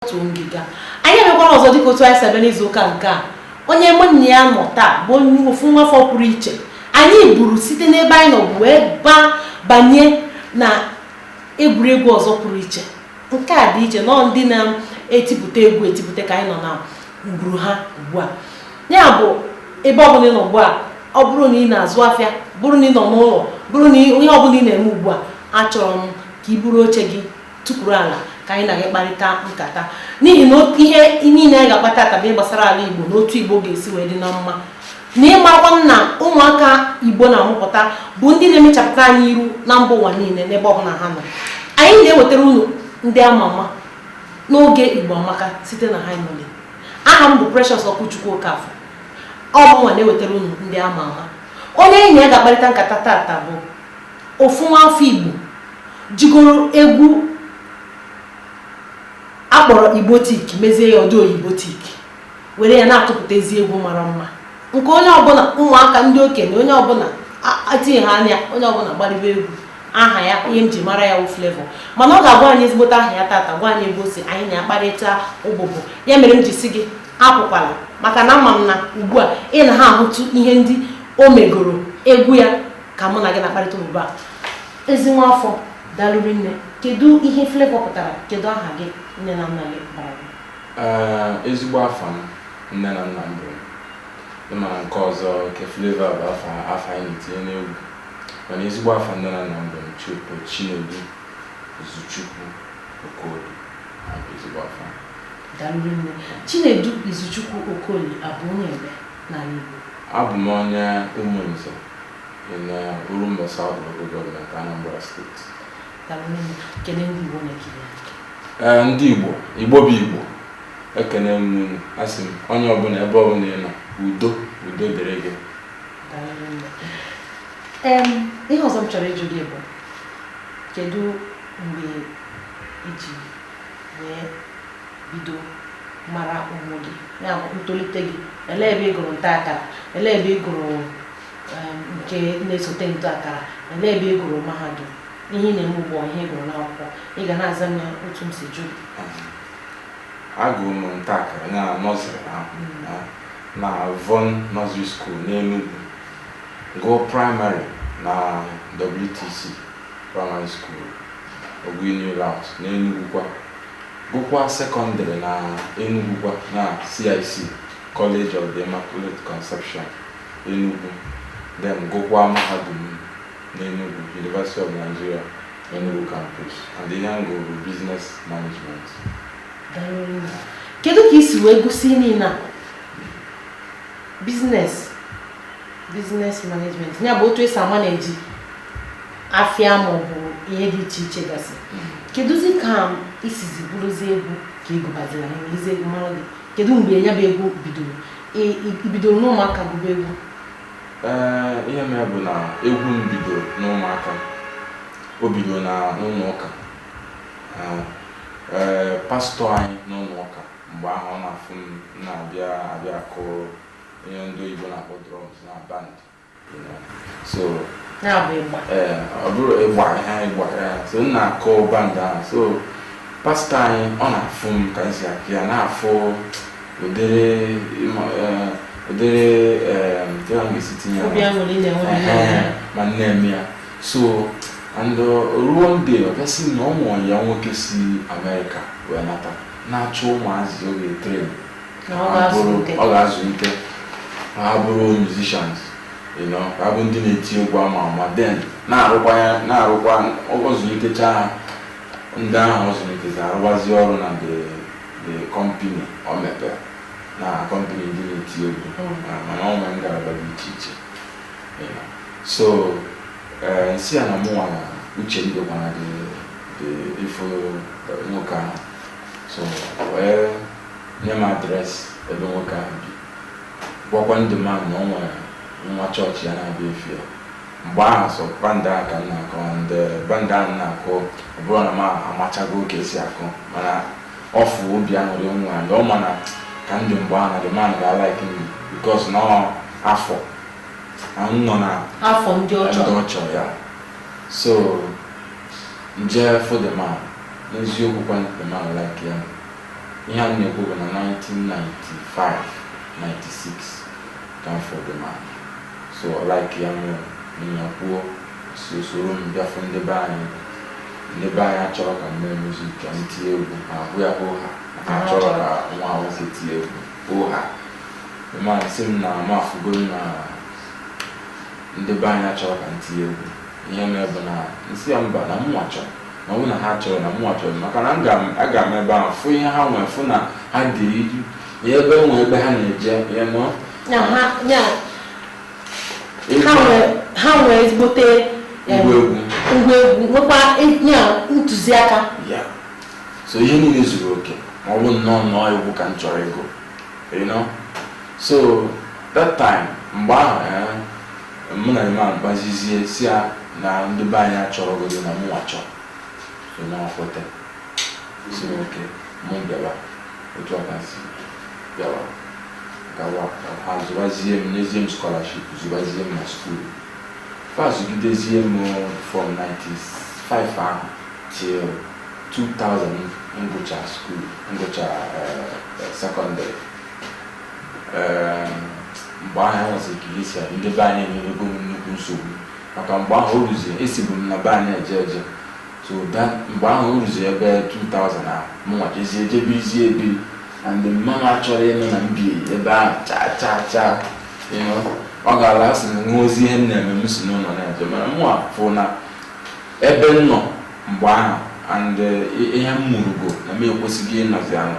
otu ngịga anyị abịakwara ọzọ dịka otu anyị si abịa n'izu ụka nke a onye mụ na ya nọ taa bụ onye ofu nwafọ pụrụ iche anyị buru site n'ebe anyị nọbu wee baa banye na egwuregwu ọzọ pụrụ iche nke a dị iche ụnọ ndị na-etipụta egwu etipụta ka anyị nọ na ngwuru ha ugbu a ya bụ ebe ọbụla ị nọ ugbu a ọ bụrụ na ị na-azụ afịa bụrụ na ị nọ n'ụlọ bụrụ na ihe ọbụla ị na-eme ugbu a achọrọ m ka ị buru oche gị tukwuru ala ka anyị na gị kparịta nkata n'ihi na ihe niile anyị ga-akpa tata bụ gbasara ala Igbo na otu Igbo ga-esi wee dị na mma na ịmakwa na ụmụaka Igbo na-amụpụta bụ ndị na-emechapụta anyị iru na mba ụwa niile n'ebe ọbụla ha nọ anyị na-ewetara unu ndị ama ama n'oge Igbo Amaka site na Hi Nolly aha m bụ Precious Okwuchukwu Okafọ ọ bụ mụnwa na-ewetara unu ndị ama ama onye anyị na ya ga-akparịta nkata tata bụ Ofu nwaafọ Igbo jigoro egwu a kpọrọ Igbotik mezie ya ọdị Oyibotik were ya na-atụpụta ezi egwu mara mma nke onye ọbụla ụmụaka ndị okenye onye ọbụla atinye ha anya onye ọbụla gbaribe egwu aha ya ihe m ji mara ya wụ Flavour mana ọ ga-agwa anyị ezigbote aha ya tata gwa anyị ebe o si anyị na-akparịta ụbụbụ ya mere m ji sị gị apụkwala maka na ama m na ugbu a ị na ha ahụtụ ihe ndị o megoro egwu ya ka mụ na gị na-akparịta ugbu a ezi nwa afọ dalụ rinne kedu ihe Flavour pụtara kedu aha gị nne na nna gị bara gị Ee, ezigbo afa m nne na nna m bụ ị ma na nke ọzọ nke Flavour bụ afa afa anyị na-etinye n'egwu mana ezigbo afa nne na nna m bụ Chu Chinedu Izuchukwu Okoli Ya bụ ezigbo afa m. dalụ rinne Chinedu Izuchukwu Okoli a bụ onye ebee n'ala Igbo abụ m onye Umunze in uh, Orumba South Local Government, Anambra State. Eh, ndị Igbo Igbo bụ Igbo ekene m unu asị m onye ọbụla ebe ọbụla ị nọ udo udo dịrị gị ihe ọzọ m chọrọ ịjụ gị bụ kedu mgbe i ji wee bido mara onwe gị ya bụ ntolite gị elee ebe ị gụrụ nta akara elee ebe ị gụrụ nke na-esote nta akara elee ebe ị gụrụ mahadum ihe ị na-eme ugbu a ihe ị gụrụ n'akwụkwọ ị ga na-aza m ya otu m si jụ agụrụ m nta akara na nursery ahụ hmm. na Von Nursery School n'Enugu gụọ primary na WTC Praịmarị School, Ogui New Layout na Enugwu kwa, gụkwaa sekọndịrị na Enugwu kwa na CIC, College of the Immaculate Conception, Enugwu, then gụkwaa mahadum n'Enugwu, University of Nigeria, Enugwu Campus, and ihe m gụrụ bụ Business Management. Kedu ka i si wee gụsị ihe niile a? Business? business management ya bụ otu esi manage afịa ma ọ bụ ihe dị iche iche gasị kedụzi ka isizi bụrụzi egwu ka ịgụbaziri anyị ejizi egwu mara gị kedu mgbe ya bụ egwu bidoro I- i- ibidoro n'ụmụaka gụba egwu ee ihe mere bụ na egwu m bidoro n'ụmụaka o bidoro na n'ụlọ ụka Ee, ee pastọ anyị n'ụlọ ụka mgbe ahụ ọ na-afụ m na-abịa akụ ihe ndị oyibo na-akpọ drums na band you know. so ya bụ ịgba ee ọ bụrụ ịgba ha ịgba ya so m na-akụ band ahụ so pastọ anyị ọ na-afụ m ka m si akụ ya na-afụ ụdịrị ịma- ee, ụdịrị ee, kee ka m ga-esi tinye ya obi aṅụrị m na-enwe na Ehe, ya ma m na-eme ya so and o ruo one day ọ gasị na o nwere ya nwoke si amerịka wee nata na-achọ ụmụazị ọ ga-etrain ọ ga-azụlite ha bụrụ musicians ha abụrụ ndị na-eti egwu ama ama then na-arụkwa ya na-arụkwa ọ zụlitecha ha ndị ahụ ọ zụlitezi arụwazi ọrụ na the company ọ mepere na company ndị na-eti egwu mm. mana ọ nwere ngalaba dị iche iche so eh, m sị ya na mụnwa na uche m dịkwa na ụdị ife nwoke ahụ so wee nye m adres ebe nwoke ahụ bi, gwakwa the man na o nwere nwa chọọchị ya na-abịa ịfụ ya. Mgbe ahụ sọ band ahụ ka m na-akụ and the band ahụ m na-akụ ọ bụrọ na m amachago ka esi akụ mana ọ fụ obi aṅụrị m nwere and ọ ma na ka m dị mgbe ahụ na the man ga-alaik m because na ọ afọ na m nọ na afọ ndị ọ chọrọ ya so m je fụ the man n'eziokwu kwa the man likeịa Ihe a m na-ekwu bụ na 1995, 96 ka m fụrụ The Man. So ọ likeịa m, mụ na ya kwuo, so o soro m bịa fụ ndị be anyị. Ndị be anyị achọrọ ka m mee music, ka m tie egwu, ha ajụ ya hoo ha. Ha achọrọ ka nwa ha nwoke tie egwu, hoo ha. The Man sị m na m afụgoro na ndị be anyị achọrọ ka m tie egwu. Ihe mere bụ na m sị ya mba na mụnwa chọrọ. na ọ bụ na ha achọrọ na mụnwa chọrọ maka na m ga- aga m ebe ahụ fụ ihe ha nwere fụ na ha dị iri na ebe nwe ebe ha na-eje you know Ya ha- ya, ha nwere- ha nwere ezigbote em, ngwa egwu ngwa egwu nwekwa e- ya ntụziaka ya so ihe niile zuru oke ma ọ bụ nnọọ nnọọ egwu ka m chọrọ ịgụ you know so that time mgbe ahụ eh, Mụ na man kpazizie sị ya na ndị be anyị achọrọgodi na mụnwa chọọ. So na ọ kwete. Sị m okay, mụ bịawa. Otu a ka m si bịawa. Gawa, ha zụbazie m, nyezie m scholarship, zụbazie m na school. Fa zụgidezie m from 95 ahụ till 2000 m gụcha school, m gụcha eh, secondary. mgbe ahụ enwezi ka esi adị ndị be anyị enwego m nnukwu nsogbu maka mgbe ahụ o ruzie esibu m na be anyị eje eje so mgbe ahụ o ruzie ebe 2000 ahụ mụnwa jezie jee birizie ebiri and mama m achọrọ ịnụ na m bi ebe ahụ chaa chaa chaa ọ ga-ala asị na nwa ozi ihe m na-eme m si n'ụlọ na-eje mana mụnwa fụ na ebe m nọ mgbe ahụ and ihe m mụrụgo na m ekwesịghị ịnọzi anọ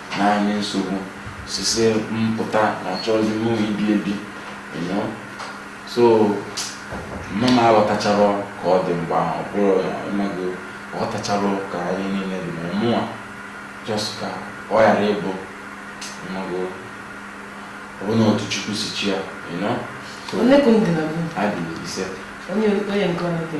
Na-enye nsogbu sị sị m pụta na achọghịzi m ibi ebi you know so mama m aghọtachara ka ọ dị mgbe ahụ bụrụ ị mago ghọtachara ka anyị niile dị ma mụnwa just ka ọ ghara ịbụ ị mago ọ bụ na otu Chukwu si chọọ ya anyị dị ise onye nke ọ na-eke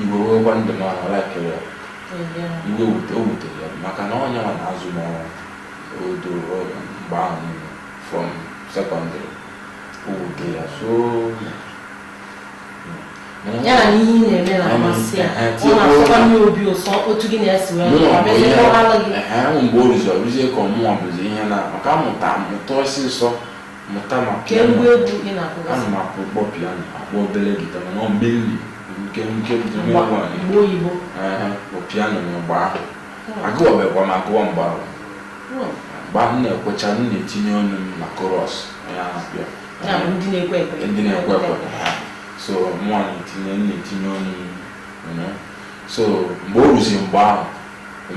Igbo wewekwa ndụ m ahụ laikere ya iwe wute o wutere ya maka na ọ yanwa na-azụ m odo mgbe ahụ niile from secondary o wute ya so ya na ihe ị na-eme na-amasị ya ọ na-asọkwa nne obi ụsọ otu gị na-esi wee mgbe o ruzi o ruzie ka ọ mụnwa bụzi ihe na maka amụta mụta ọsịsọ mụta ma kee piano ngwa egwu ị na-akụgasị ana m akpọ kpọ piano akpọ obere guitar mana ọ mainly nke nke nke mgba nwa anyị mgba oyibo Aha, bụ piano na mgbe ahụ agụwabekwa m agụwa mgbe ahụ Hmm. mgbe ahụ m na-ekwecha m na-etinye ọnụ m na chorus onye ahụ pịa ya bụ ndị na-ekwe ekwe ndị na-ekwe ekwe ha. so mụnwa na-etinye m na-etinye ọnụ m you know. so mgbe o ruzi mgbe ahụ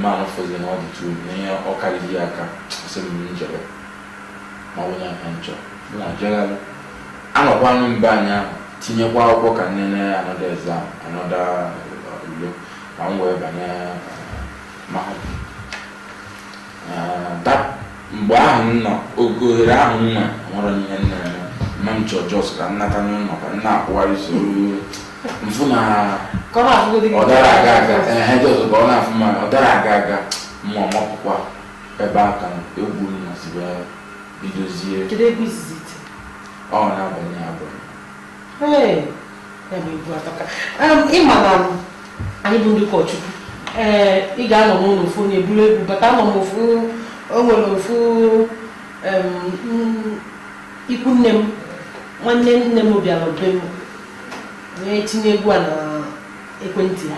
man ahụ fụzi na ọ dịtụ na ihe ọ karịghị ya aka sị m m jebe ma ọ bụ na ka nchọ m na-ajegharị anọkwanụ m be anyị ahụ tinyekwa akwụkwọ ka m nene another exam another ule ka m wee banye mahadum mgbe ahụ m nọ oge ohere ahụ m nwe nwere ihe m na-eme ma m chọọ just ka m nata n'ụlọ ka m na-akwụgharị soro m fụ na ọ dara aga aga ehe just ka ọ na-afụ ma ọ dara aga aga m amapụkwa Ebe a ka egwu m nọzi wee bidozie. Kedu egwu izizi i ti? Ọ N'abania, N'abania. Ee, ya bụ egwu atọka. Em, Ị ma na anyị bụ ndị ụkọchukwu ee ị ga-anọ n'ụlọ ofu onye buru egwu bata anọ m ofu o nwere ofu em, mm, ikwu nne m nwanne nne m bịara be m wee tinye egwu a n'ekwentị ya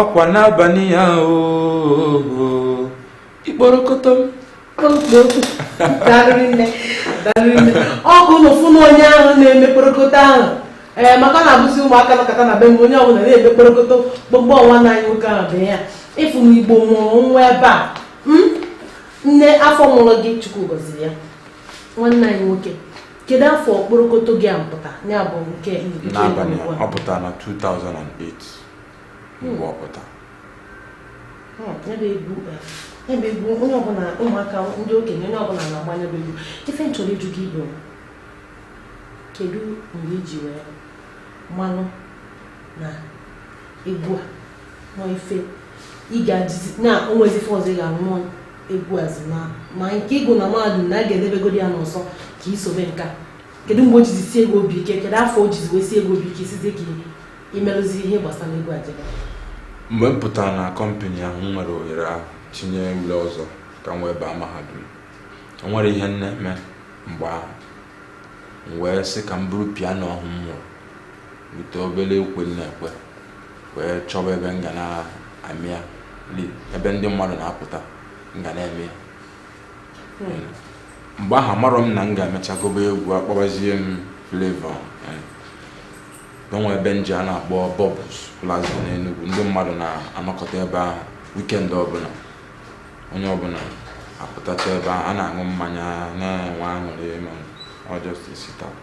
ọkwa N'abania oo ikporokoto ọ bụ na ị fụ na onye ahụ na-eme kporokoto ahụ ee eh, maka na abụzi ụmụaka nọkọta na be m onye ọbụla na-eme kporokoto gbogbo ọ nwanne anyị nwoke ahụ bụ ya ị fụ na Igbo mụrụ nwa ebe a hmm? nne afọ mụrụ gị Chukwu gọziri ya nwanne anyị nwoke kedu afọ kporokoto gị a pụta ya bụ nke N'abania ọ pụtara na 2008 mgbe ọ pụta ebe egwu ebe egwu onye ọbụla ụmụaka ndị okenye onye ọbụla na-agba ya bụ egwu ife m chọrọ ịjụ gị bụ kedu mgbe i ji wee manụ na egwu a na ọ ife ị ga-adịzi na o nwezi ife ọzọ ị ga-arụ na ọ egwu azi na ma nke ịgụ na mahadum na a ga-edebegodi ya n'ụsọ ka i sobe nke a kedu mgbe o jizi sie gị obi ike kedu afọ o jizi wee sie gị obi ike sizi ka i merụzi ihe gbasara egwu a mgbe m pụtara na kọmpani ahụ m nwere ohere ahụ tinye ule ọzọ ka m wee baa mahadum o nwere ihe m na-eme mgbe ahụ m wee sị ka m buru piano ahụ m mụrụ bute obere ukwe m na-ekwe wee chọba ebe m ga na-eme ya ebe ndị mmadụ na-apụta m ga na-eme ya mgbe ahụ amarọ m na m ga-emecha gụbe egwu a kpọbazie m Flavour Na o nwe ebe m je a na-akpọ Bubbles Plaza n'Enugwu, ndị mmadụ na-anọkọta ebe ahụ weekend ọbụla. Onye ọbụla apụtacha ebe ahụ, a na-aṅụ mmanya, na-enwe aṅụrị ma ọ just a sit out.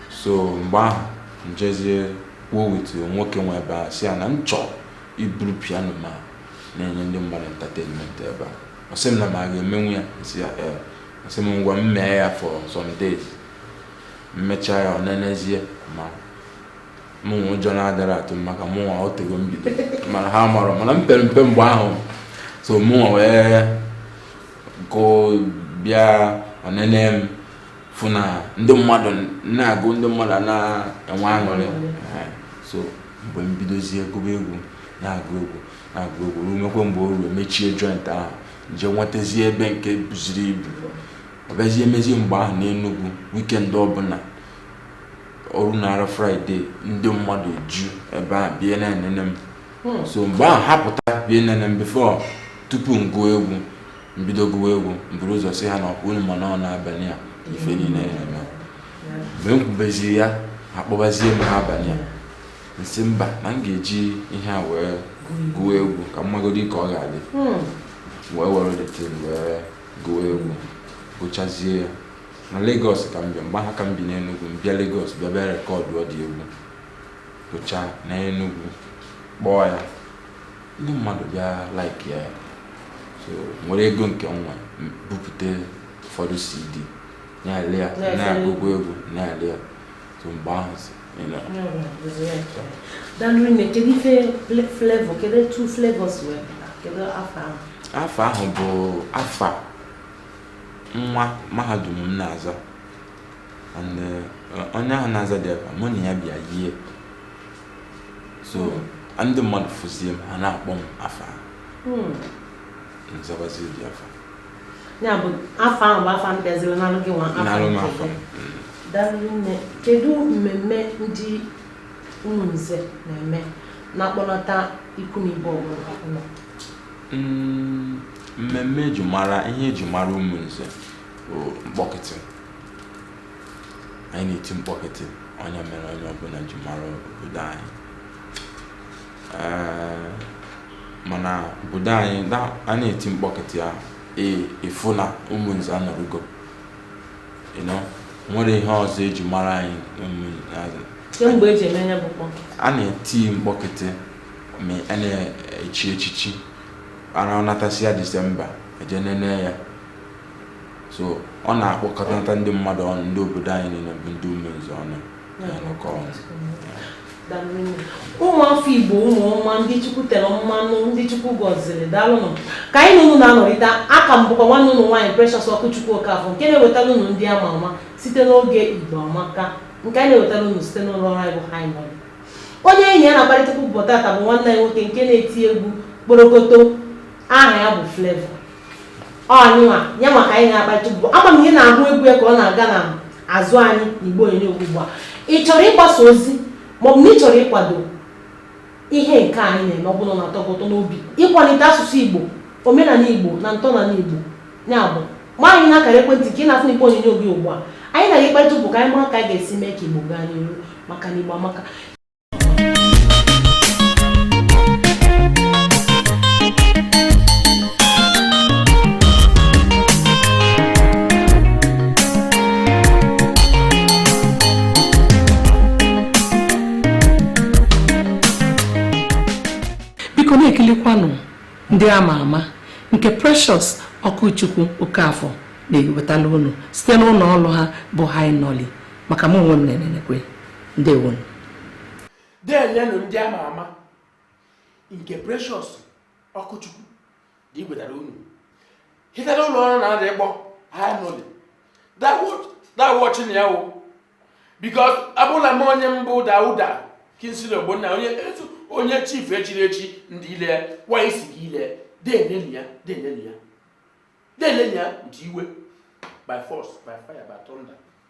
So mgbe ahụ m jezie kwuo with nwoke nwe ebe ahụ sị ya na m chọọ iburu piano ma na-enye ndị mmadụ entertainment ebe a. Ọ sị m na m aga-emenwu ya? M sị ya ee. Ọ sị m ngwa m mee ya for some days. m mecha ya ọ nenezie ma mụnwa ụjọ na-adara atụ m maka mụnwa o tego m bido mana ha amarọ mana m pere mpe mgbe ahụ so mụnwa wee gụ bịa ọnene m fụ na ndị mmadụ na-agụ ndị mmadụ a na-enwe aṅụrị Ehe. so mgbe m bidozie gụba egwu na-agụ egwu na-agụ egwu ruo mekwe mgbe o ruo mechie joint ahụ je nwetazie ebe nke buziri ibu Ọ bịazie mezie mgbe ahụ n'Enugwu weekend ọbụla o runara Friday ndị mmadụ ju ebe a bịa na-enene m hmm. so mgbe ahụ ha pụta bịa nene m before tupu m gụọ egwu m bido gụwa egwu m buru ụzọ si ha na ọkwa unu ma na ọ n'abanị a ife niile ya-eme mgbe m kwubeziri ya ha kpọbazie m N'abanịa m sị mba na m ga-eji ihe a wee gụọ egwu ka m magodi ka ọ ga-adị hmm. wee were the thing wee gụọ egwu gụchazie ya na Lagos ka m bịa mgbe ahụ ka m bi n'Enugwu m bịa Lagos bịa bịa recordụọ the egwu gụcha naa Enugwu kpọọ ya ndị mmadụ bịa like ya so m were ego nke m nwe bupụta ụfọdụ CD na-ele ya na-agụgụ egwu na-ele ya so mgbe ahụ afa ahụ bụ afa nwa mahadum m na-aza and onye ahụ na-aza the afa mụ na ya bịa yie so hmm. ndị mmadụ fụzie m ha na-akpọ m afa hmm. m zabazie the afa ya bụ afa ahụ bụ afa m bịaziri nalụ gị nwa afa daalụ rinne kedu mmemme ndị Ụmụnze na-eme na-akpọnata ikwu na ibe ọbụla ụlọ mm, mmemme eji mara ihe eji mara Ụmụnze mkpọkịtị anyị na-eti mkpọkịtị ọ nya mere onye ọbụla ji mara obodo anyị mana obodo anyị a na-eti mkpọkịtị ya ị fụ na Ụmụnze anụrụgo e nwere ihe ọzọ eji mara anyị e a na-eti mkpọkịtị ma a na-echi echichi ara a natasịa Disemba e je nene ya so ọ na-akpọkọta ndị mmadụ ọnụ ndị obodo anyị niile bụ ndị Ụmụnze ọnụ ụmụafọ igbo ụmụ ọma ndị chukwu tere mmanụ ndị chukwu gọziri daalụnụ ka anyị na unu na-anọrị taa a ka m bụkwa nwanne unu nwaanyị Precious Okwuchukwu Okafọ nke na-ewetara unu ndị ama ama site n'oge Igbo Amaka nke anyị na-ewetara unu site n'ụlọ ọrụ anyị bụ Hi Nolly onye anyị na ya na-akparịta okwu ụbọ tata bụ nwanne anyị nwoke nke na-eti egwu kporokoto aha ya bụ Flavour ọnyịnwa ya maka anyị na-akparịta ụbụ ama m ị na-ahụ egwu ya ka ọ na-aga na azụ anyị n'igbe onyonyo ugbu a ị chọrọ ịgbasa ozi maọbụ na ị chọrọ ịkwado ihe nke anyị na-eme ọ bụla na-atọ gị ụtọ n'obi ịkwalite asụsụ igbo omenala igbo na ntọala igbo ya bụ ma anyị n'akara ekwentị nke ị na-afụ n'igbe onyonyo gị ugbu a anyị na gị kparịta ụbụ ka anyị mara ka anyị ga-esi mee ka igbo gaa n'ihu maka na igbo amaka biko na-ekilikwanụ ndị ama ama nke Precious Okwuchukwu Okafọ na-ewetala unu site n'ụlọ ọrụ ha bụ High Nolly maka mụ onwe m na-enenekwe ndewo delenụ ndị ama ama nke precious okwuchukwu dị iwetara unu hitara ụlọ ọrụ na-adị ịkpọ high nolly dawọchi na ya wụ because abụla m onye mbụ dauda kingsley ogbonna onye onye chief echiri echi ndị ile wa isi gị ile denenu ya denenu ya denenu ya nji iwe by force by fire by thunder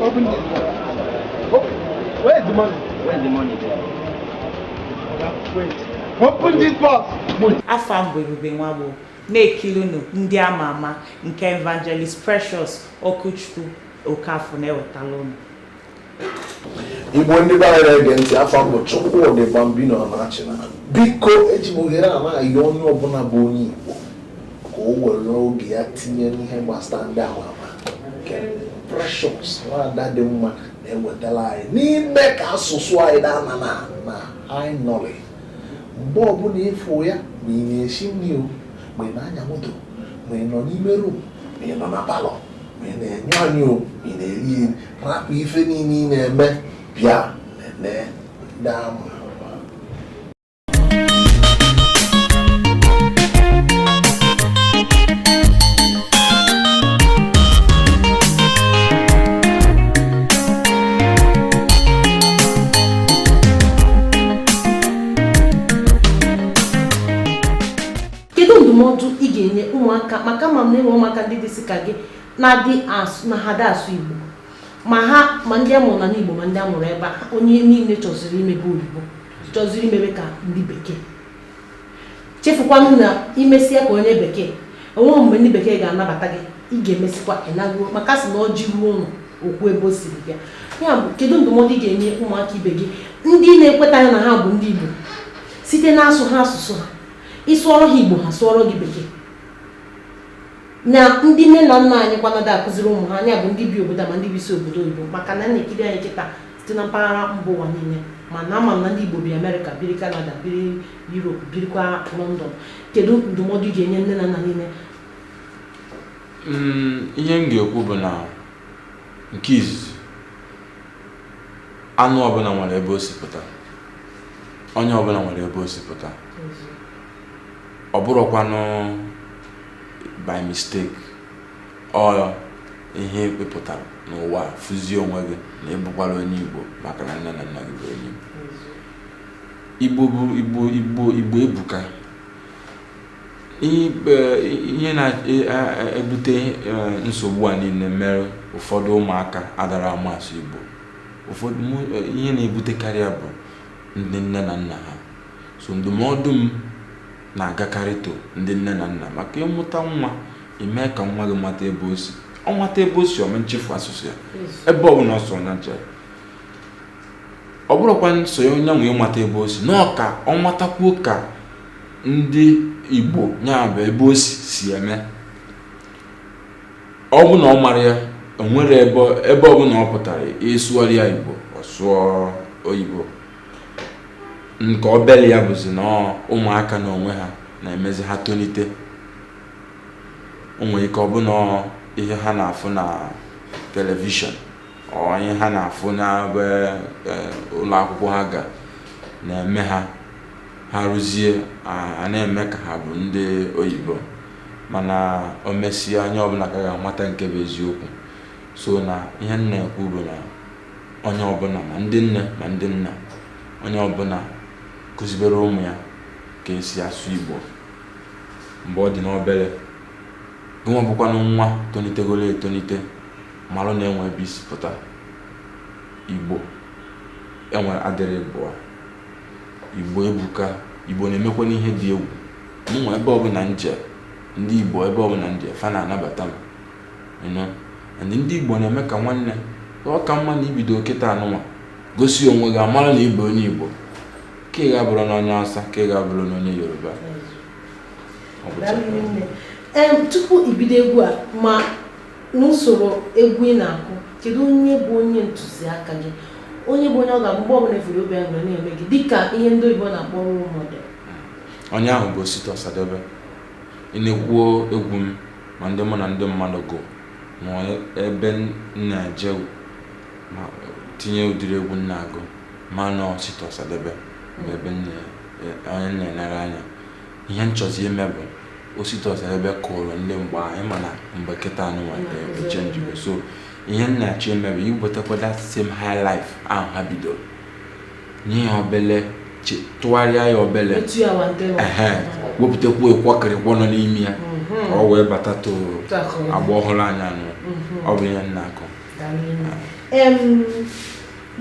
Open it. Open. Where is the money? Where is the money there? Wait. Open this box. Afa m bụ Ebube Nwagbo na-ekilinu ndị ama ama nke Evangelist Precious Okwuchukwu Okafor na-ewetala unu. igbo ndị be anyị na-ege ntị afa m bụ Chukwudi Bambino Anachina biko eji m ohere a na-ayọ onye ọbụla bụ onye igbo ka o were oge ya tinye n'ihe gbasara ndị ama ama nke Precious nwada dị mma na-ewetara anyị n'ime ka asụsụ anyị daa na na na anyị nọrị mgbe ọbụla ị fụ ya ma ị na-esi nri o ma ị na-anya moto ma ị nọ n'ime rum ma ị nọ na palọ ma ị na-aṅụ aṅụ o ma ị na-eri eri rapụ ife niile ị na-eme bịa nenee ndị ama ama kedu ndụmọdụ ị ga-enye ụmụaka maka ama m na e nwe ụmụaka ndị dịsị ka gị na-adị asụ na ha adị asụ Igbo ma ha ma ndị a mụrụ na Igbo ma ndị a mụrụ ebe a onye niile chọziri imebe oyibo chọziri imebe ka ndị bekee chefukwanụ na i mesịa ka onye bekee o nweghị mgbe ndị bekee ga-anabata gị ị ga-emesịkwa ịnago maka a sị na ọjị ruo ụlọ o kwuo ebe o siri bịa ya bụ kedu ndụmọdụ ị ga-enye ụmụaka ibe gị ndị na-ekwetaghị na ha bụ ndị Igbo site na asụha asụsụ ha ị sụọrọ ha Igbo ha sụọrọ gị bekee na ndị nne na nna anyịkwa na-ada akụziri ụmụ ha nya bụ ndị bi obodo ma ndị bisi obodo oyibo maka na a na-ekiri anyị kịtaa site na mpaghara mba ụwa niile mana ama m na ndị Igbo bi Amerịka biri Kanada biri Europe birikwa London kedu ndụmọdụ ị ga-enye nne na nna niile mm, ihe m ga-ekwu bụ na nke izizi anụ ọbụla nwere ebe o si pụta onye ọbụla nwere ebe o si pụta ọ bụrụkwanụ by mistake or ihe ị pụtara n'ụwa fụzie onwe gị na ị bụkwara onye Igbo maka na nne na nna gị bụ onye Igbo Igbo ebuka ihe na-ebute e, e, e, nsogbu a niile mere ụfọdụ ụmụaka adara ama asụ Igbo ụfọdụ ihe na-ebutekarị ya bụ ndị nne na nna ha So ndụmọdụ m na-agakarị to ndị nne na nna maka ị mụta nwa, ị mee ka nwa gị mata ebe o si. Ọ mata ebe o si, ọ ma nchefu asụsụ ya. Ebe ọ bụla ọ sọ nya jee. Ọ bụrụkwa nso ya onye nwe ịmata ebe o si, na ọ ka ọ matakwuo ka ndị Igbo ya bụ ebe o si si eme. Ọ bụ na ọ mara ya, o nwere ebe ebe ọ bụla ọ pụtara ị sụara ya Igbo, ọ sụọ oyibo. nke obele ya bụzi na ụmụaka na onwe ha na-emezi ha tonite o nwee ike ọbụna ihe ha na-afụ na telivishọn or ihe ha na-afụ n'ebe e, ụlọ akwụkwọ ha ga na-eme ha ha rụzie a na-eme ka ha bụ ndị oyibo mana o mesịa onye ọbụla ka ga-amata nke bụ eziokwu so na ihe m na-ekwu bụ na onye ọbụla ma ndị nne ma ndị nna onye ọbụla kụzibere ụmụ ya ka e si asụ Igbo mgbe ọ dị n'obere gịnwa bụkwanụ nwa tonitegolo etonite marụ na e nwee ebe i si pụta Igbo enwere adịrị ịbụa Igbo ebuka Igbo na-emekwanụ ihe dị egwu mụnwa ebe ọbụla m je ndị Igbo ebe ọbụla m je fa na-anabata m you know and ndị Igbo na-eme ka nwanne ọ ka mma na i bido kịta anụnwa gosi onwe gị a mara na ị bụ onye Igbo ka ị ga-abụrụ n'onye Hausa ka ị ga-abụrụ n'onye Yoruba tupu i bido egwu a ma n'usoro egwu ị na-akụ kedu onye bụ onye ntụziaka gị onye bụ onye ọ ga-abụ mgbe ọbụla ị fụrụ ọ bịa na-eme gị dịka ihe ndị oyibo na-akpọ role model onye ahụ bụ Osita Ọsadebe i nekwuo egwu m ma ndị mụ na ndị mmadụ gụ ma ebe m na-eje ma tinye ụdịrị egwu m na-agụ ma na ọ Osita Ọsadebe bụ ebe m na- e- onye m na-enere anya ihe m chọzi ime bụ Osita Ọsadebe kụrụ ndị mgbe ahụ ị ma na mgbe kịta anụnwa echenjigo so ihe m na-achọ ime bụ iwetakwa that same high life ahụ ha bidoro nye ya obele tụgharịa ya obele wepụtakwu ịkwọkịrịkwọ nọ n'ime ya ka ọ wee bata to agba ọhụrụ anyị nọ ọ bụ ihe m na-akụ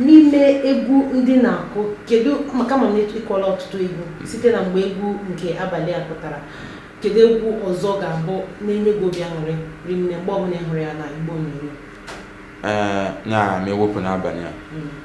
n'ime egwu ndị ị na-akụ kedu maka m ma na ị kụọla ọtụtụ egwu site na mgbe egwu nke abalị a pụtara kedu egwu ọzọ ga-abụ na-enye gị obi aṅụrị rinne mgbe ọbụla ị hụrụ ya na igbe onyonyo na ma e wepụ n'abalị a hmm.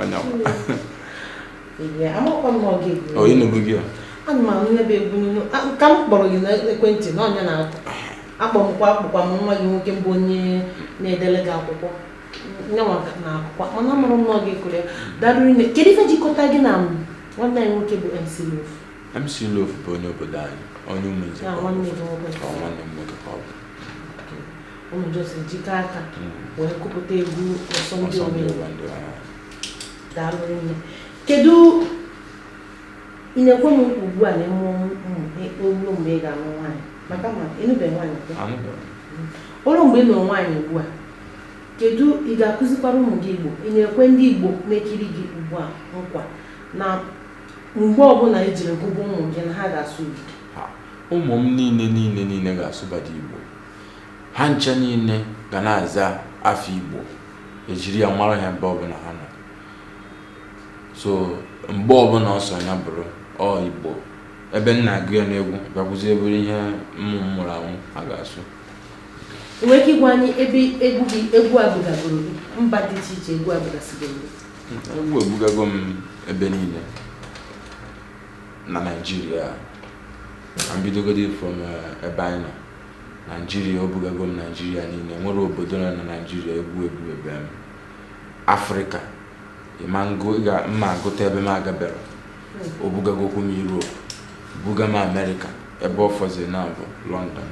anya onye nụrụ gị ya ana m anụ ebe egwu nunu ka m kpọrọ gị n'ekwentị na ọ nya na-akụ akpọmkwa akpụkwa m nwa gị nwoke mbụ onye na-edele gị akwụkwọ nyanwa na akwụkwọ mana amaara m na ọ ga-ekiri ya darụ rinne kedu ife jikọta gị na nwanne anyị nwoke bụ MC Loaf MC Loaf bụ onye obodo anyị onye Ụmụnze nwanne m nwoke ka ọ bụ mụ na ya so jikọ aka wee kụpụta egwu Ọsọndị Owendi daalụ rinne kedu ị na-ekwe m nkwa ugbu a na emm o lu mgbe ị ga-alụ nwaanyị maka m ma ị nụbeghị nwaanyị o lu mgbe ị nụrụ nwaanyị ugbu a kedu ị ga-akụzikwara ụmụ gị igbo ị na-ekwe ndị igbo na-ekiri gị ugbu a nkwa na mgbe ọbụla i jiri gụgụ ụmụ gị na ha ga-asụ igbo ụmụ m niile niile niile ga-asụbadụ igbo ha ncha niile ga na-aza afa Igbo e jiri ya mara ha ebe ọbụla ha nọ so mgbe ọbụla ọ sọ ya bụrụ ọ Igbo ebe m na-agụ ya n'egwu bịakwuzie bụrụ ihe mụ mụrụ ahụ ha ga-asụ i nwere ike ịgwa anyị ebe egwu gị egwu a bugagoro gị mba dị iche iche egwu a bugasịgoro gị egwu ebugago m ebe niile na naijiria ka m bidogodi from eh, ebe anyị nọ Naijiria o bugago m Naijiria niile nwere obodo nọ na Naijiria egwu ebugabe m Afrịka ịma ngụ ị ga mma agụta ebe m agabero o bugagokwu m Europe buga m Amerịka ebe ọ fọzi na bụ London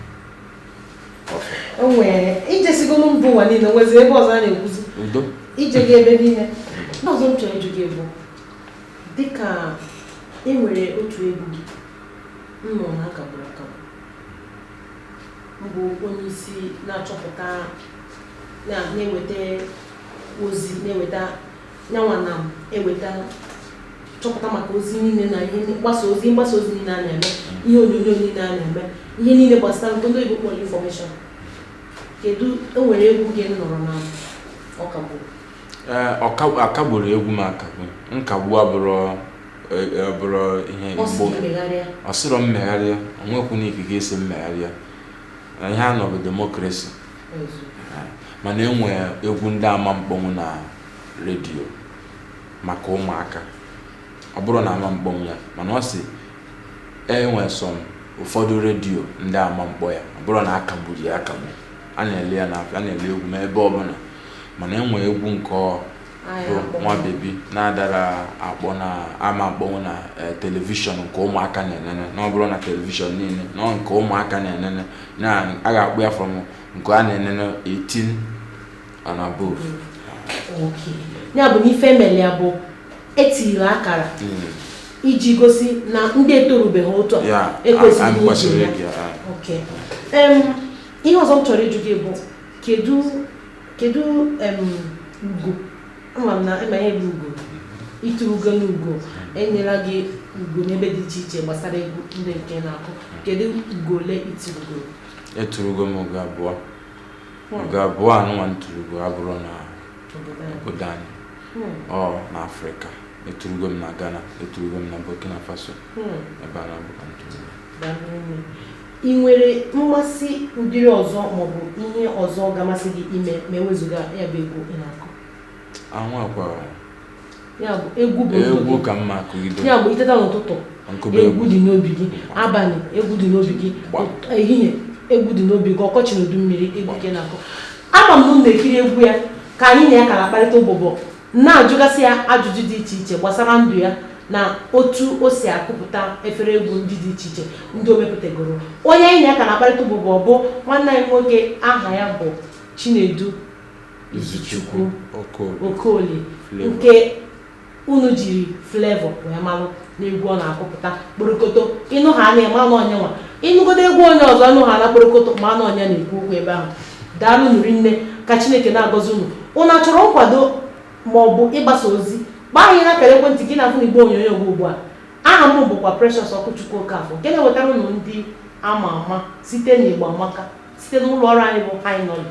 ọfọ o nwere ijesigolu mba ụwa niile nwezi ebe ọzọ a na-ekwuzi udo ije gị ebe niile nke ọzọ m chọrọ ịjụ gị bụ dịka e nwere otu egwu gị m nụrụ na a kagburu akagbu bụ onye isi na-achọpụta na-eweta ozi na-eweta nyanwa na-eweta chọpụta maka ozi niile na ihe mgbasa ozi niile a na-eme ihe onyonyo niile a na-eme ihe niile gbasara nke ndị oyibo kpọrọ information kedu e nwere egwu gị m nụrụ na ọ kagburu a kagburọ egwu m akagbu nkagbu abụrọ e, e, ọ bụrụ ihe ọ sị mgbo gị megharịa ọ sịrọ m megharịa o nwekwu na ikike ịsị m megharịa na ihe a nọ bụ demokrasi mana e nwee egwu ndị ama mkpọnwụ na redio maka ụmụaka ọ bụrọ na ama mkpọnwụ ya mana ọ sị e nwee some ụfọdụ redio ndị ama mkpọ ya ọ bụrọ na a kagburu ya akagbu a na-ele ya n'afịa a na-ele egwu m ebe ọbụla mana e nwee egwu nke ọ bụ Nwa Baby na-adara akpọ na a ma akpọnwu na eh, telivishọn nke ụmụaka na-enene na ọ bụrọ na telivishọn niile na nke ụmụaka na-enene na a ga-akpọ ya from nke a na-enene 18 and above ya bụ na ife e meli ya bụ e tiri akara hmm. iji gosi na ndị etorubeghị uto ekwesịghị ige ya ihe ọzọ m chọrọ ịjụ gị bụ kedu kedu em, ugo ama m na ị ma ihe bụ ugo ituru ugo na ugo e nyela gị ugo n'ebe dị iche iche gbasara egwu ndị nke ị na-akụ kedu ugo ole i turugo eturugo m ugo abụọ Hmm. ugo abụọ anụnwa m turugo abụrọ na obodo anyị? obodo anyị Hmm, ọ na afrịka eturugo m na ghana eturugo m na burkina faso hmm. ebe a naabọ ka m turugo Daalụ nne. Ị nwere mmasị ụdịrị ọzọ maọbụ ihe ọzọ ga-amasị gị ime ma e wezuga ya bụ egwu ị na-akụ? E nwekwarọ. Ya bụ egwu bụ egwu ka m ma akụgide. Ya bụ i teta n'ụtụtụ egwu dị n'obi gị, abalị egwu dị n'obi gị, ehihie egwu dị n'obi gị, ọkọchị na udu mmiri egwu ka ị na-akụ. Ama m na m na-ekiri egwu ya ka anyị na ya ka na-akparịta ụbụbọ Na-ajụgasị ya ajụjụ dị iche iche gbasara ndụ ya na otu o si akụpụta efere egwu ndị dị iche iche ndị o mepụtagoro. Onye anyị na ya ka na-akparịta ụbụbọ bụ nwanne anyị nwoke aha ya bụ Chinedu Izuchukwu Okoli nke unu jiri Flavour wee malụ. n'egwu ọ na-akụpụta kporokoto ịnụ ha na ị manụ onye nwa ịnụgodo egwu onye ọzọ ịnụ ha na kporokoto manụ onye na-ekwu okwu ebe ahụ daalụnụ rinne ka chineke na-agọzi unu unu chọrọ nkwado ma ọ bụ ịgbasa ozi gbaa anyị na akara ekwentị gị na-afụ n'igbe onyonyo gị ugbu a aha m bụkwa Precious Okwuchukwu Okafọ nke na-ewetara unu ndị ama ama site n'Igbo Amaka site n'ụlọ ọrụ anyị bụ High Nolly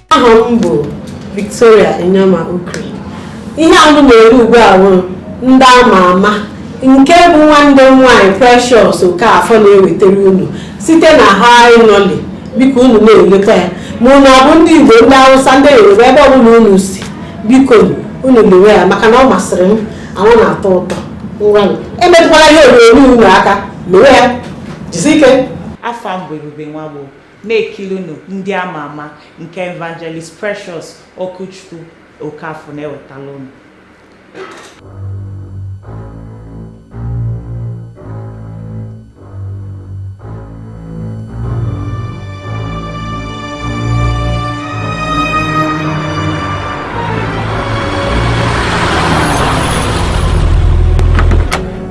aha m bụ Victoria Inyama Okri ihe a unu na-ele ugbu a bụ ndị ama ama nke bụ nwanne m nwaanyị Precious Okafor na-ewetara unu site na High Nolly biko unu na-elekwa ya ma unu ọ bụ ndị Igbo ndị Hausa ndị Yoruba ebe ọbụla unu si biko unu lewe ya maka na ọ masịrị m and ọ na-atọ ụtọ ngwanụ emetụkwala ihe onyonyo unu aka lewe ya jisi ike afa m bụ Ebube Nwagbo Na-ekilinu ndị ama ama nke Evangelist Precious Okwuchukwu Okafor na-ewetara unu.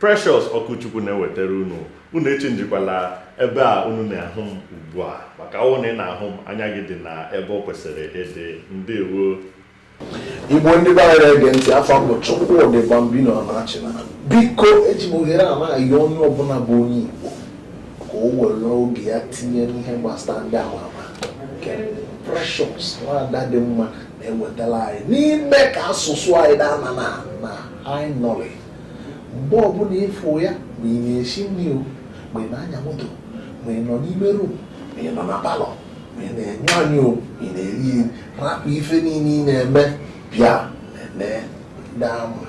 Precious Okwuchukwu na-ewetara unu unu echenjikwala ebe a unu na-ahụ m ugbu a maka ọ wụ na ị na-ahụ m anya gị dị na ebe ọ kwesịrị ịdị ndewo igbo ndị be anyị na-ege ntị afa m bụ Chukwudi Bambino Anachina biko eji m ohere a na-ayọ onye ọbụla bụ onye igbo ka o were oge ya tinye n'ihe gbasara ndị ama ama nke Precious nwada dị mma na-ewetara anyị n'ime ka asụsụ anyị ghara ịna na High Nolly mgbe ọbụla ịfụ ya ma ị na-esi nri o ma ị na-anya moto ma ị nọ n'ime rum ma ị nọ na palọ ma ị na-anyụ anyụ o ị na-eri eri rapụ ife niile ị na-eme bịa nene ndị ama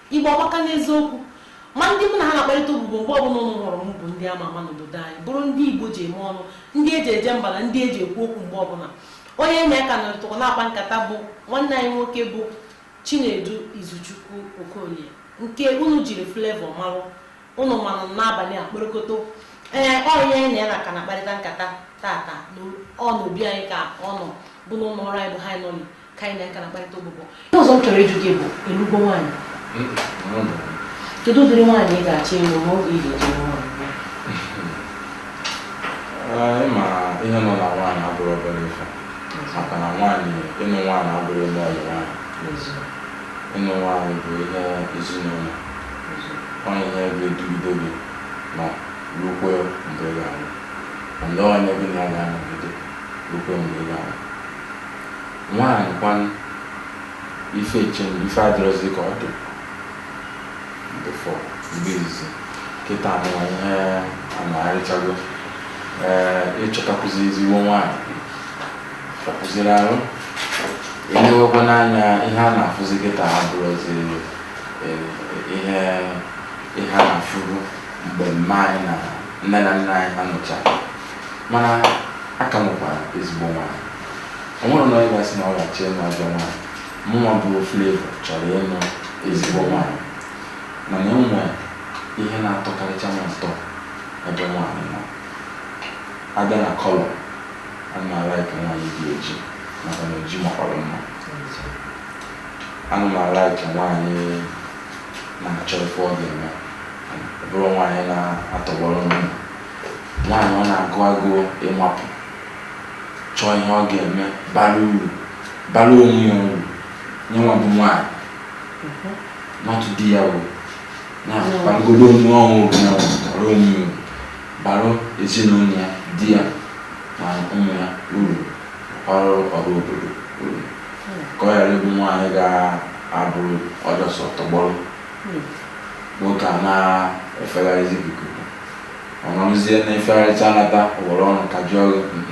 Igbo amaka n'eziokwu. Ma ndị mụ na ha na-akparịta ụbụbọ mgbe ọbụla unu hụrụ m bụ ndị ama ama n'obodo anyị, bụrụ ndị Igbo ji eme ọnụ, ndị e ji eje mba na ndị e ji ekwu okwu mgbe ọbụla. Onye anyị na ya ka nọrịtakwa na-akpa nkata bụ nwanne anyị nwoke bụ Chinedu Izuchukwu Okolie nke unu jiri Flavour marụ. Unu manụ m N'abania kporokoto. Ee, ọ onye anyị na ya na ka na-akparịta nkata tata. Ọ n'obi anyị ka ọ nọ bụ n'ụlọ ọrụ anyị bụ High Nolly ka anyị na-aka na-akparịta ụbụbọ ihe ọzọ m chọrọ ịjụ gị bụ ị lụgo nwaanyị kedu ụdịrị nwaanyị ị ga-achọ ịlụ ma oge ị ga-eji lụọ nwaanyị ịma ihe ọnụnụ nwaanyị abụrọ obere ife maka na nwaanyị ịnụ nwaanyị abụrọ ime ọyị nwaanyị ịnụ nwaanyị bụ ihe ezinụlọ onye ihe ga-edugide gị ma rukwe mgbe ị ga-anwụ ndị onye gị na ya ga-anọgide rukwe mgbe ị ga-anwụ Nwaanyị kwanụ? Ife change, ife adịrọzi ka ọ dị before mgbe izizi. Kịta nụwa ihe anagharịchago. Ee, ịchọtakwụzi ezigbo nwaanyị hịakwụziri arụ. Elewekwa n'anya ihe a na-afụzi kịta abụrọzi eh, ihe ihe a na-afụbu mgbe mma anyị na nne na nna anyị ha nụcha mana a ka nwekwara ezigbo nwaanyị o nwerọ onye ga-asị na ọ ga-achọ ịnụ ajọ nwaanyị mụnwa bụ Flavour chọrọ ịnụ ezigbo nwaanyị mana e nwere ihe na-atọkarịcha m ụtọ ebe nwaanyị nọ a bịa na colour ana m alaiki nwaanyị dị oji maka na oji makwara mma ana m alaiki nwaanyị na-achọ ife ọ ga-eme ọ bụrọ nwaanyị na-atọgbọrọ nri nwaanyị ọ na-agụ agụụ ịmapụ chọọ ihe ọ ga-eme bara uru bara onwe ya uru nyanwa bụ nwaanyị nọtụ di ya bụ na-akpagoro onwe ọnwụ bụ ya bara onwe ya uru bara ezinụlọ ya di ya na ụmụ ya uru ọra ọra obodo uru ka ọ ghara ịbụ nwaanyị ga-abụ ọ just tọgbọrọ otu a na-efegharịzi ikuku Ọ nọrụzie na-efegharịcha anata o nwerọ ọrụ aka o ji arụ, mm,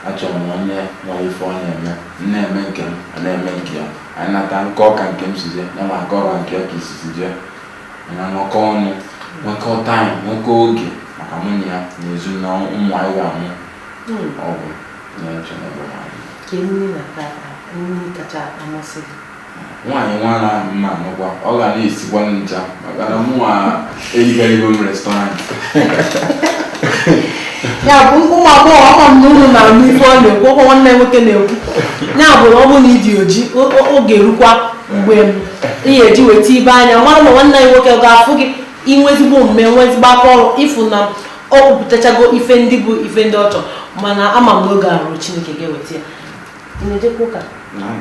Achọrọ m onye nwere ife ọ na-eme, m na-eme nke m, ọ na-eme nke ya. Anyị nata m kọọ ka nke m si jee, yanwa akọọ ka nke ya ka isi si jee. Anyị anọkọọ ọnụ, nwekọọ time, nwekọọ oge maka mụ na ya na ezi na ụmụ anyị ga-amụ. Ọ bụ ihe m na-eche n'ebe nwaanyị. Ka emume na-ata ata, emume kacha amasị gị. Nwaanyị nwa ahụ m ga-anụkwa, ọ ga na-esikwa ncha maka na mụnwa erigharịgo m restaurant. ya bụ ụmụ agbọghọ ama m na unu na-anụ ife ọ na-ekwu ọkwa nwanne nwoke na-ekwu ya bụ na ọ bụrụ na ị dị oji o- o- oge erukwa mgbe m ị ga-eji weta ibe anya mara na nwanne anyị nwoke ga-afụ gị i nwe ezigbo omume nwe ezigbo aka ọrụ ị fụ na ọ kwupụtachago ife ndị bụ ife ndị ọ chọrọ mana ama m na oge eru Chineke ga-eweta ya Ị na-ejekwa ụka? Na m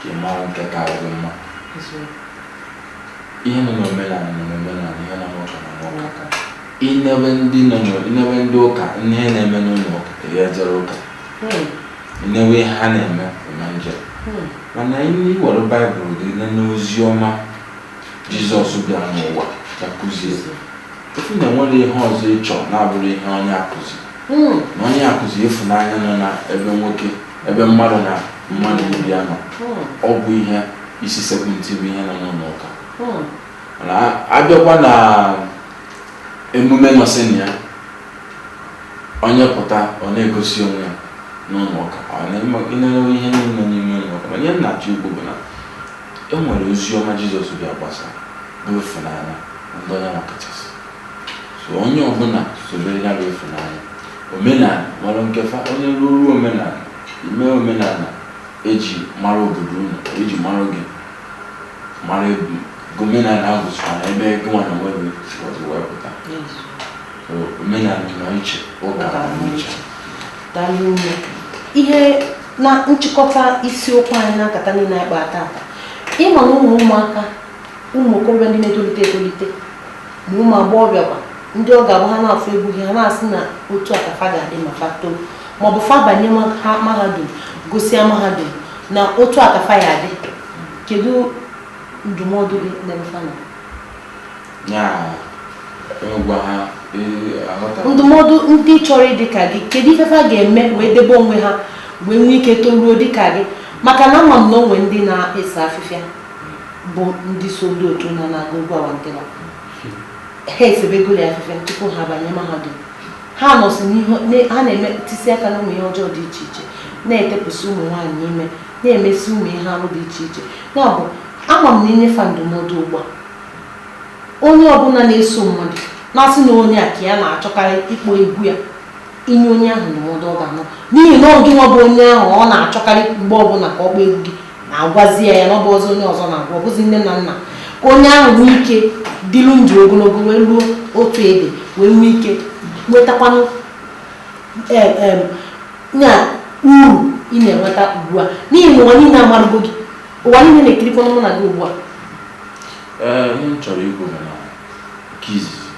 ka ị mara nke ka gị mma ihe nọ n'omenala nọ n'omenala ihe nọ n'ụka nọ n'ụka i nebe ndị nọ i nebe ndị ụka ihe na-eme n'ụlọ ụka ị ya jere ụka hmm. i nebe ihe ha na-eme na njem hmm. mana i were baịbụl gị na n'ozi ọma jizọs bịa n'ụwa ya kụzie ị fụ na e nwere ihe ọzọ ịchọ na-abụrụ ihe ọ na-akụzi hmm. na ọ na-akụzi ịfụnanya nọ na ebe nwoke ebe mmadụ na mmadụ ibe ya nọ ọ bụ ihe isi sekpụ ntị bụ ihe nọ n'ụlọ ụka mana a bịakwa na emume nọsị na ya onye pụta ọ na-egosi onwe ya n'ụlọ ụka ọ na-enwe ihe niile n'ime ụlọ ụka mana ihe m na-achọ ikwu bụ na e nwere ozi ọma jizọs bịa gbasa bụ ịfụnanya ndị onye nwa kachasị so onye ọbụla sobe ya bụ ịfụnanya omenala nwere nke fa onye ruru omenala ime omenala eji mara obodo unu eji mara gị mara ebu omenala ahụ bụchara na ebe gịnwa na onwe gị si ọzọ wee pụta So, omenala nọ iche ụka nọ iche daalụ nne ihe na nchịkọta isiokwu anyị na nkata niile anyị kpaa tata ị ma na ụmụ ụmụaka ụmụ okorobịa ndị na-etolite etolite ma ụmụ agbọghọbịa kwa ndị ọ ga-abụ ha na-afụ egwu gị ha na-asị na otu a ka fa ga-adị ma fa too ma ọ bụ fa banye mahadum gụsịa mahadum na otu a ka fa ya adị kedu ndụmọdụ gị n'ebe fa nọ ndụmọdụ ndị chọrọ ịdị ka gị kedu ife fa ga-eme wee debe onwe ha wee nwee ike toruo dị ka gị maka na ama m na o nwe ndị na-ese afịfịa bụ ndị so ndị otu na na-agụ egwu awantịwa ha esebegoro ya afịfịa tupu ha banye mahadum ha nọsị n'ihe ha na-eme tisi aka na ụmụ ihe ọjọọ dị iche iche na-etepụsị ụmụ nwaanyị ime na-emesi ụmụ ihe arụ dị iche iche ya bụ ama m na i nye fa ndụmọdụ ugbu a onye ọbụla na-eso mmadụ na-asị na onye a ka ya na-achọkarị ịkpọ egwu ya i nye onye ahụ ndụmọdụ ọ ga-anụ n'ihi na ọ gị nwa bụ onye ahụ ọ na-achọkarị mgbe ọbụla ka ọ kpọọ egwu gị na-agwazi ya ya na ọ bụ ọzọ onye ọzọ na-agwa ọ bụzi nne na nna ka onye ahụ nwee ike dịlu ndụ ogologo wee ruo otu ebe wee nwee ike nwetakwanụ na uru ị na-enweta ugbu a n'ihi na ụwa niile amarụgo gị ụwa niile na-ekirikwanụ mụ na gị ugbu a ee ihe m chọrọ ikwu bụ na nke izizi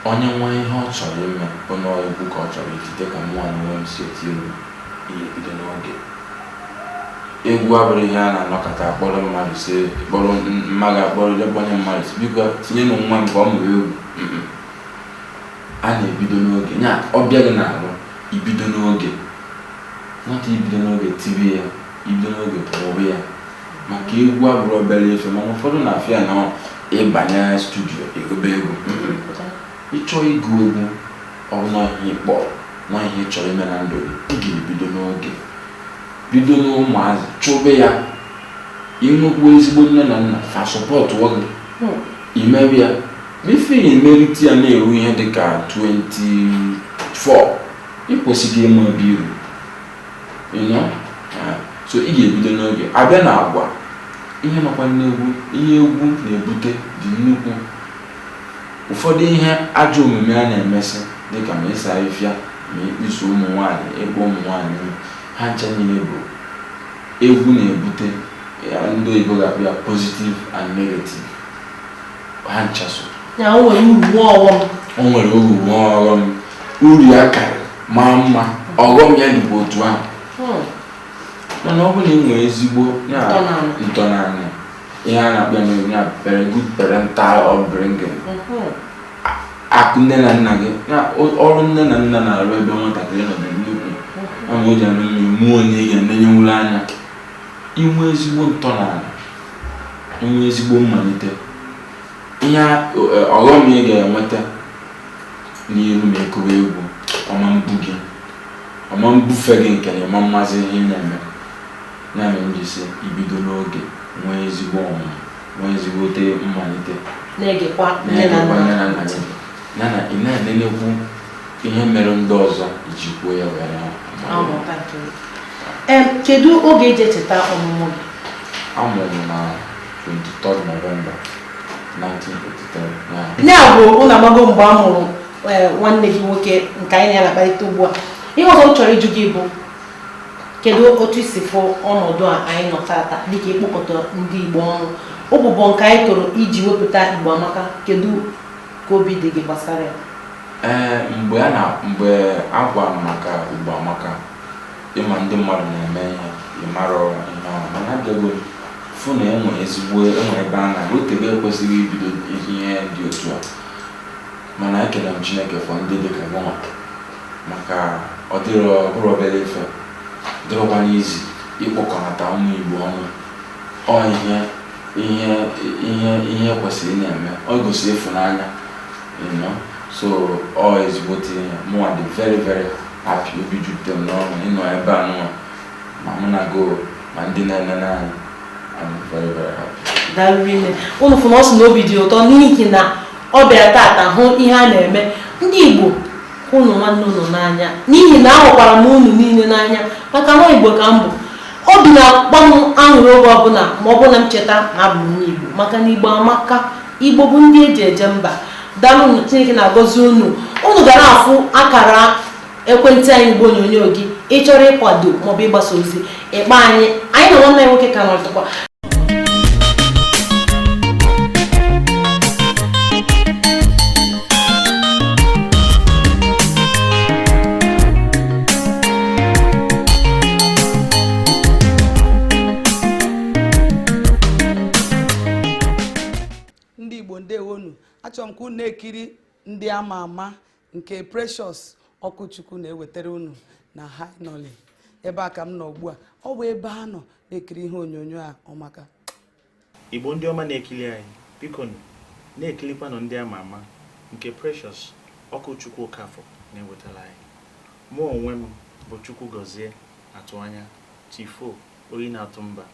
onye nwee ihe ọ chọrọ ime onye egwu ka ọ chọrọ itite ka mụnwa na onwe m si eti egwu ị ya ebido n'oge egwu abụrọ ihe a na-anọkata akpọrọ mmadụ sị kpọrọ mmadụ akpọrọ je kpọnye mmadụ sị biko tinyenụ nwa m ka ọ mụrụ egwu a na-ebido n'oge ya ọ bịa gị n'arụ i bido n'oge nwata i bido n'oge tibe ya i bido n'oge kụba ya maka egwu abụrọ obere ife mana ụfọdụ na-afụ ya na ị banye studio ị gụbe egwu Ị chọọ ịgụ egwu, ọ bụ na ọọ ihe ị kpọ, na ọọ ihe ị chọrọ ime na ndụ gị, ị ga-ebido n'oge. Bido n'ụmụazị, chụbe ya. I nwekwuo ezigbo nne na nna, fa supportụọ gị, i mebe ya. Before ị merite ya na-eru ihe dị ka 24, ị kwesịgo ịma ebe i ru. You know? Ah, So ị ga-ebido n'oge. A bịa n'agwa, ihe nọkwa n'egwu, ihe egwu na-ebute dị nnukwu. Ụfọdụ ihe ajọ omume a na-emesị dịka ma ise afịfịa ma ịkpụso ụmụ nwaanyị, ịkpụ ụmụ nwaanyị, ha ncha niile bụ egwu na-ebute ya ndị oyibo ga-akpọ ya positive and negative. Ha ncha so. O nwere uru nwee ọghọm. O nwere uru nwee ọghọm. Uru ya karịrị maa mma ọghọm ya dịkwa otu ahụ. Mana ọ bụrụ na i nwere ezigbo ntọnana, ihe a na-akpọ ya n'oyibo ya very good parental upbringing akụ nne na nna gị na o- ọrụ nne na nna na-arụ ebe nwatakịrị nọ dị nnukwu ọ ma o ji anụ mmiri mụọ onye ị ga-enenyenwuru anya i nwee ezigbo ntọnana i nwee ezigbo mmalite ihe a- o- e, ọghọm ị ga-enweta n'iru ma ị kụwa egwu ọ ma mbu gị ọ ma mbufe gị nke na ị ma mmazị ihe ị na-eme Ya mere m ji sị i bido n'oge nwee ezigbo ọmụmụ, nwee ezigbote mmalite. Na-egekwa nne na nna gị ntị. Ya na ị na-enenekwu ihe mere ndị ọzọ i jikwuo ya wee na-amụta nke gị. Ee, kedu oge e ji echeta ọmụmụ gị? A mụrụ m na 23 November 1983. Ya bụ unu amago mgbe a mụrụ nwanne gị nwoke nke anyị na ya na-akparịta ugbu a. Ihe ọzọ m chọrọ ịjụ gị bụ kedu otu i si fụ ọnọdụ a anyị nọ taata dịka ịkpọkọta ndị Igbo ọnụ ụbụbọ nke anyị tụrụ iji wepụta Igbo Amaka kedu ka obi dị gị gbasara ya ee mgbe a na mgbe a gwara m maka Igbo Amaka ị ma ndị mmadụ na-eme ihe ị marọ ihe ọ bụ mana abịago m fụ na e nwe ezigbo e nwere ebe a na o tebe e kwesịgo ibido ihe dị otu a Mana ekele m Chineke for ndị dị ka gịnwa maka ọ dịrọ ọ bụrọ obere ife ọ dịrọkwanụ easy ịkpọkọnata ụmụ Igbo ọnụ ọ ihe ihe ihe ihe kwesịrị ị na-eme ọ gosi ịfụnanya you know so ọ ezigbote ihe mụnwa dị very very happy obi jupụtara m n'ọṅụ ịnọ ebe a nụnwa ma mụ na go ma ndị na-enene anyị I'm very very happy. Daalụ rinne unu fụ na ọ sị na obi dị ụtọ n'ihi na ọ bịara tata hụ ihe a na-eme ndị Igbo hụnụ nwanne unu n'anya n'ihi na ahụkwara m unu niile n'anya maka na Igbo ka m bụ obi na-akpa m aṅụrị oge ọbụla ma ọ bụrụ na m cheta na abụ m onye Igbo maka na Igbo amaka Igbo bụ ndị eji eje mba daalụ Chineke na-agọzi unu unu ga na-afụ akara ekwentị anyị n'igbe onyonyo gị ị chọrọ ịkwado maọbụ ịgbasa ozi ị kpọọ anyị anyị na nwanne nwoke ka nọtụkwa ndị Igbo ndewonụ achọrọ m ka unu na-ekiri ndị ama ama nke Precious Okwuchukwu na-ewetara unu na HiNolly ebe a ka m nọ ugbu a ọ bụ ebe a nọ na-ekiri ihe onyonyo a ọ maka Igbo ndị ọma na-ekiri anyị biko na-ekilikwanụ ndị ama ama nke Precious Okwuchukwu Okafọ na-ewetara anyị mụ onwe m bụ Chukwugọzie Atụanya Chief Oyi na-atụ mba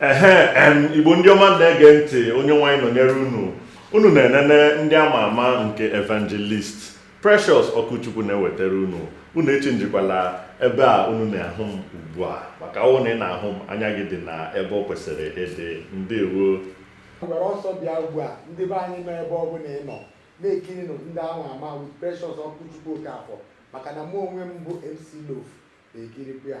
ehe em igbo ndị ọma na-ege ntị onye nwaanyị nọnyere unu unu na-enene ndị ama ama nke evangelist precious okwuchukwu na-ewetara unu unu echenjikwala ebe a unu na-ahụ m ugbu a maka ọ wụ na ị na-ahụ m anya gị dị na ebe ọ kwesịrị ịdị ndewo were ọsọ bịa ugbu a ndị be anyị nọ ebe ọ bụla ị nọ na-ekirinụ ndị ama ama with precious okwuchukwu okafọ maka na mụ onwe m bụ mc loph na-ekirikwa ya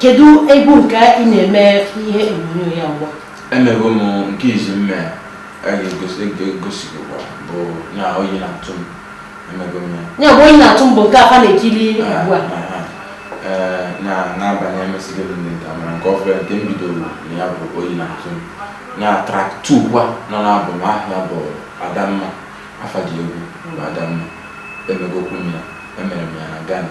kedu egwu nke ị na-eme ihe onyonyo ya ugbu a emego m nke izi mme a ga-egosigokwa e e bụ na oyi na-atụ m emego m ya ya bụ oyi na-atụ m bụ nke fa na-ekiri ah, ugbu a ah, ah. Eh, na n'abalị emesịrị m ndị nta mara nke ọfụrụ nke m bidoro na ya bụ oyi na-atụ m na track two kwa nọ n'album a ya bụ adamma afa dị egwu bụ adamma emegokwu m ya emere m ya na Ghana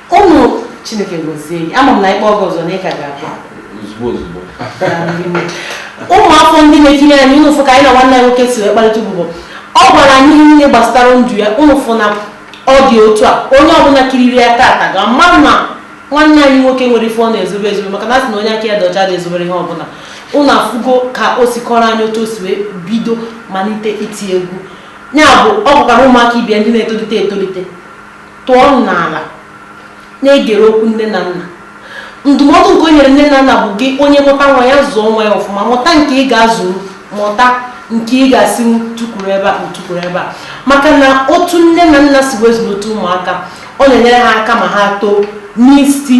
Ụmụ Chineke gozie gị. Ama m na a kpọọ gị ọzọ na ị ka ga-abịa. Ozugbo ozugbo. Ụmụ afọ ndị na-ekiri anyị ụnụ fụ ka anyị na nwanne anyị nwoke si wee kparịta ụbụbọ. Ọ gwara anyị ihe niile gbasara ndụ ya ụnụ fụ na ọ dị otu a onye ọbụla kiriri ya tata ga-ama na nwanne anyị nwoke enwerọ ife ọ na-ezobe ezobe maka na a sị na onye aka ya dị ọcha adị ezobere ihe ọbụla ụnụ afụgo ka o si kọrọ anyị otu o si wee bido malite iti egwu ya bụ ọ bụkwara ụmụaka ibe ya ndị na-etolite etolite tụọ n'ala na-egere okwu nne na nna ndụmọdụ nke o nyere nne na nna bụ gị onye mụta nwa ya zụọ nwa ya ọfụma mụta nke ị ga-azụ mụta nke ị ga-asị tukwuru ebe a o tukwuru ebe a maka na otu nne na nna si wee zụlite ụmụaka ọ na-enyere ha aka ma ha too n'isi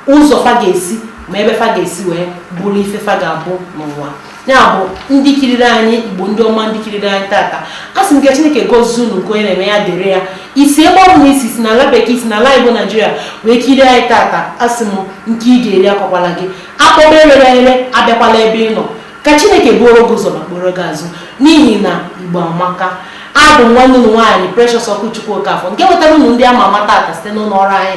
ụzọ fa ga-esi ma ebe fa ga-esi wee bụrụ ife fa ga-abụ n'ụwa ya bụ ndị kiriri anyị igbo ndị ọma ndị kiriri anyị tata asị m ka chineke gozie unu nke onye na-eme ya dịrị ya i si ebe ọ bụla i si i si n'ala bekee i si n'ala igbo naijiria wee kirie anyị tata asị m nke ị ga-eri akwakwala gị akpọba erere ere abịakwala ebe ị nọ ka chineke buoro gị ụzọ ma kporo gị azụ n'ihi na igbo amaka abụ m nwanne unu nwaanyị Precious Okwuchukwu Okafọ nke wetara unu ndị ama ama tata site n'ụlọ ọrụ anyị